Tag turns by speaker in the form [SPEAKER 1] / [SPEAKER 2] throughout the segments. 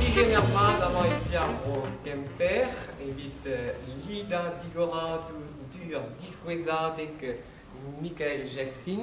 [SPEAKER 1] Digemer mat amañ e ti ar vro Kemper evit eh, lidañ digorañ du- ur diskouezadeg eh, Mikael Jestin.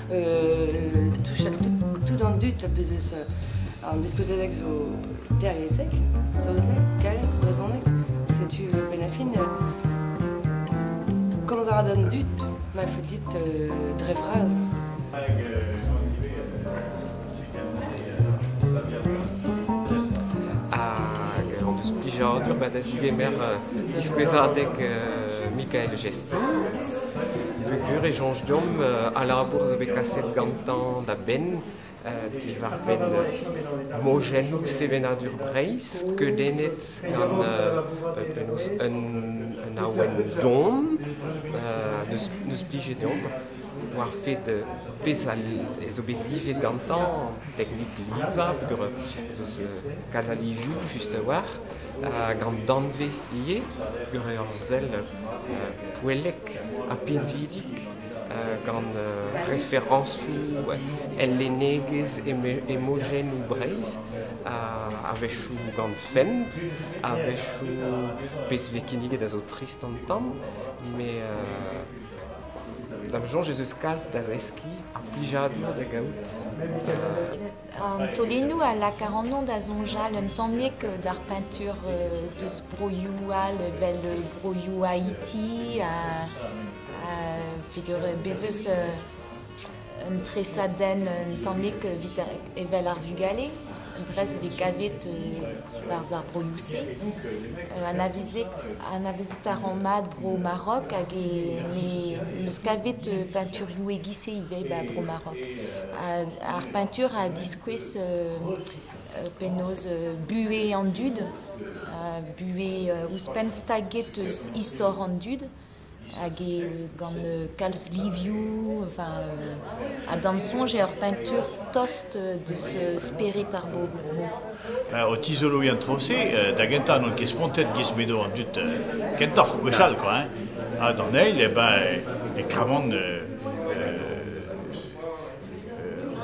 [SPEAKER 1] touchat tout an dud a bez eus an diskouezadeg zo derlezek, saozneg, gallek, brezhoneg. Setu benn a fin. Komañ a ra d'an dud, ma faut dit dre vras. Hag an desplijadur ba da zigemer diskouezadeg Mikael Gest. Bugur e soñj deomp a labour zo bet kaset gantañ da benn diwar-benn mojennoù sevenadur Breizh skeudennet gant penaos un awen don. Neus plije deomp. war fed peseurt zo bet livet gantañ, teknik livañ peogwir ez eus kazadivioù just a-walc'h, hag an danvez ivez peogwir ur sell poellek ha pinvidik gant referañsoù el lennegezh hemojennoù Breizh, a-wechoù gant fent, a-wechoù pezh vez kinniget a zo trist an tamm, met Da'm soñj ez eus kalz da zeskiñ, ar plijadur da gaout. An taolennoù a lak ac'hanon da soñjal un tammig d'ar peintur deus broioù all evel broioù Haiti. Ha peger bez eus Un tresadenn un tammig evit evel ar vugale, un dres vez kavet barzh ar broioù-se. Anavezout a ran mat bro Marok hag em eus kavet peinturioù e-giz-se ivez ba bro Marok. Ar peintur a diskouez penaos buhez an dud, buhez ouzhpenn staget istor an dud. Hag gant kalz livioù, enfin ha d'am soñj eo ur peintur tost deus spered ar bobl. O tizoloiñ an tro-se, da gentañ n'on ket spontet gis m'edo an dud kentoc'h gwechall kwa hein, ha d'an eil eh ben e kavan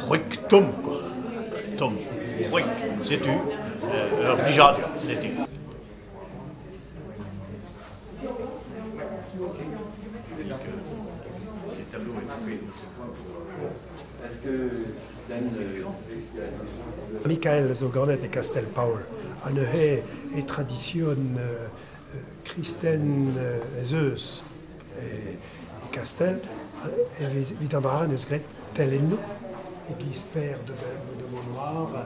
[SPEAKER 1] c'hwek tomm quoi, tomm, c'hwek setu ur blijadur n'eo ket. Mikael zo ganet e Kastell-Paol ha neuze e tradision euh, kristen euh, ez eus e, Kastell. Evit an bara, eus graet telennoù, e-giz per de, de Beaunoir,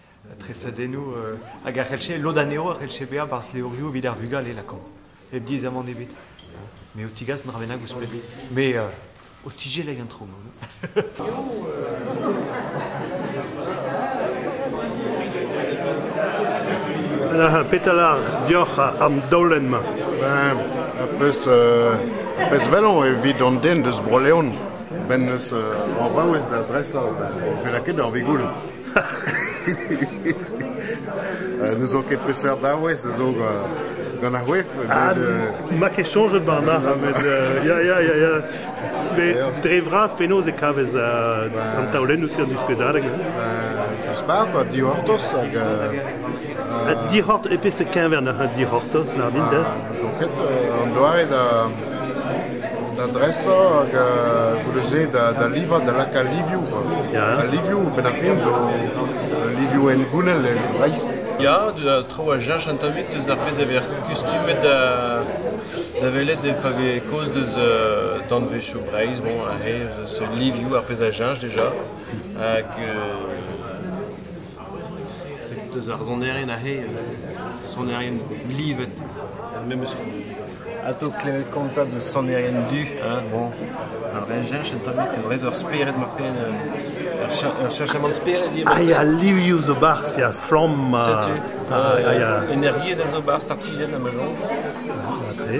[SPEAKER 1] tresadennoù hag a c'hellche lod anezho a c'hellche bezañ barzh levrioù evit ar vugale lakaomp hep diaezamant ebet me ho tigas un dra bennak ouzhpenn me ho tijelleg intro Petal ar dioc'h am daolenn-mañ. Ben, peus, euh, peus velon evit an den deus Bro-Leon. Ben neus euh, an vaouez da dresañ, ben, e ket ur vigoul. ne zo ket peseurt arouez a zo gant ar c'hoef. Ah, ma ket soñjet Barna. Ya, ya, ya, ya. Dre vras penaos e kavez an taolennoù se an diskouezadeg. Dispar, pa dihortos hag... Dihort, e pe se keñver na dihortos, na min de? Zo ket, an doare da Da dresañ hag goude-se da livañ, da lakaat livioù. Al livioù, benn ar fin, zo livioù hengounel e Breizh. Ya, traoù a cheñch an tammig deus ar pezh a vez kustumet da welet pa vez kaoz deus danvezioù Breizh. Bon, livioù, ar pezh a cheñch déjà. Hag Set eus ar sonerien aze, sonerien livet, memes Atao klevet kontañ deus sonerien du, bon, ar recherch un tammig e brez ur spered matre, ur cheñchamant spered ivez matre. Ah, ya, livioù zo 'barzh, ya, flamm, Setu, energiezh a zo 'barzh, startijenn ha ma soñj. matre.